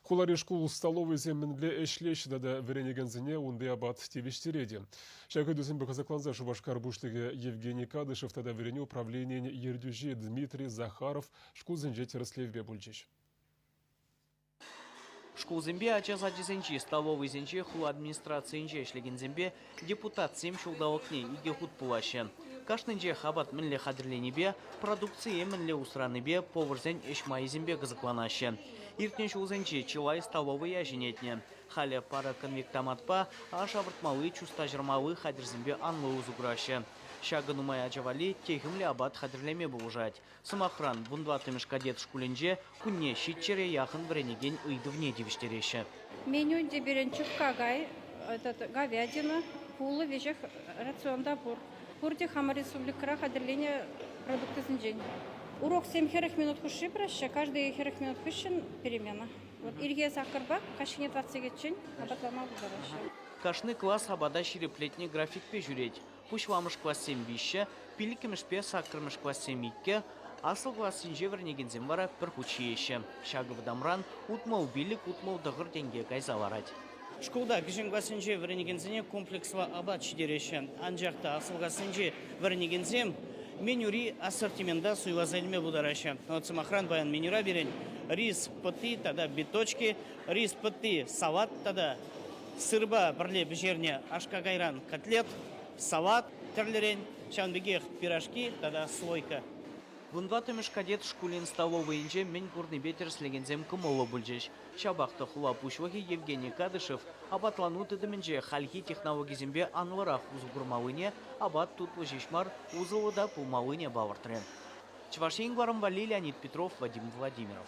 Хулари шкул столовӑйӗсем мӗнле ӗҫлеҫҫӗ тата вӗренекенсене унти апат тивӗҫтерет-и? Ҫак ыйтусемпе кӑсӑкланса Шупашкар пуҫлӑхӗ Евгений Кадышев тата вӗренӳ управленийӗн ертӳҫи Дмитрий Захаров шкулсенче тӗрӗслевпе пулчӗҫ. Шкулсемпе ача сачӗсенчи столовӑйсенче, хула администрацийӗнче ӗҫлекенсемпе Депутатсем ҫулталӑкне икӗ хут пулаҫҫӗ. Кашнинчех апат мӗнле хатӗрленипе, продукцие мӗнле усранипе, поварсен ӗҫ майӗсемпе кӑсӑкланаҫҫӗ. Иртнӗ ҫулсенче чылай столовӑя ҫӗнетнӗ. Халӗ парӑ конвектоматпа, аш авӑртмалли, чуста ҫӑрмалли хатӗрсемпе анлӑ усӑ кураҫҫӗ. Ҫакӑ нумай ача валли техӗмлӗ апат хатӗрлеме пулӑшать, Сӑмахран, вун тӑваттӑмӗш кадет шкулӗнче кунне ҫиччӗре яхӑн вӗренекен ыйтӑвне тивӗҫтереҫҫӗ. Менюнте пирӗн чупка кай, говядина, пулӑ, веҫех рацион та пур. Пурте хамӑр республикӑра хатӗрленӗ продуктӑсенчен. Уроксем хӗрӗх минут хушши пыраҫҫӗ, каждый хӗрӗх минут хыҫҫӑн перемена. Вот ирхи саккӑрпа каҫхине тӑватта сехетчен апатланма пултараҫҫӗ. Кашни класс апата ҫирӗплетнӗ графикпе ҫӳрет. Пуҫламӑш классем виҫҫӗ, пиллӗкмӗшпе саккӑрмӗш классем иккӗ, аслӑ классенче вӗренекенсем вара пӗр хут ҫиеҫҫӗ. Ҫакӑ вӑтамран утмӑл пиллӗк утмӑл тӑхӑр тенке кайса ларать. Шкулта кӗҫӗн классенче вӗренекенсене комплекслӑ апат ҫитереҫҫӗ, анчах та аслӑ классенче вӗренекенсем менюри ассортимента суйласа илме пултараҫҫӗ. Вӑт сӑмахран, паян менюра пирӗн рис пӑтти тата биточки, рис пӑтти салат тата Сырпа пӗрле пӗҫернӗ аш-какайран котлет, салат тӗрлӗрен, ҫавӑн пекех пирожки тата слойка. Вун тӑваттӑмӗш кадет шкулӗн столовӑйӗнче мӗн курнипе тӗрӗслекенсем кӑмӑллӑ пулчӗҫ. Ҫапах та хула пуҫлӑхӗ Евгений Кадышев апатлану тытӑмӗнче хальхи технологисемпе анлӑрах усӑ курмаллине, апат тутлӑ ҫеҫ мар, усӑллӑ та пулмаллине палӑртрӗ Чӑваш Ен Кӑрӑм валли Леонид Петров, Вадим Владимиров.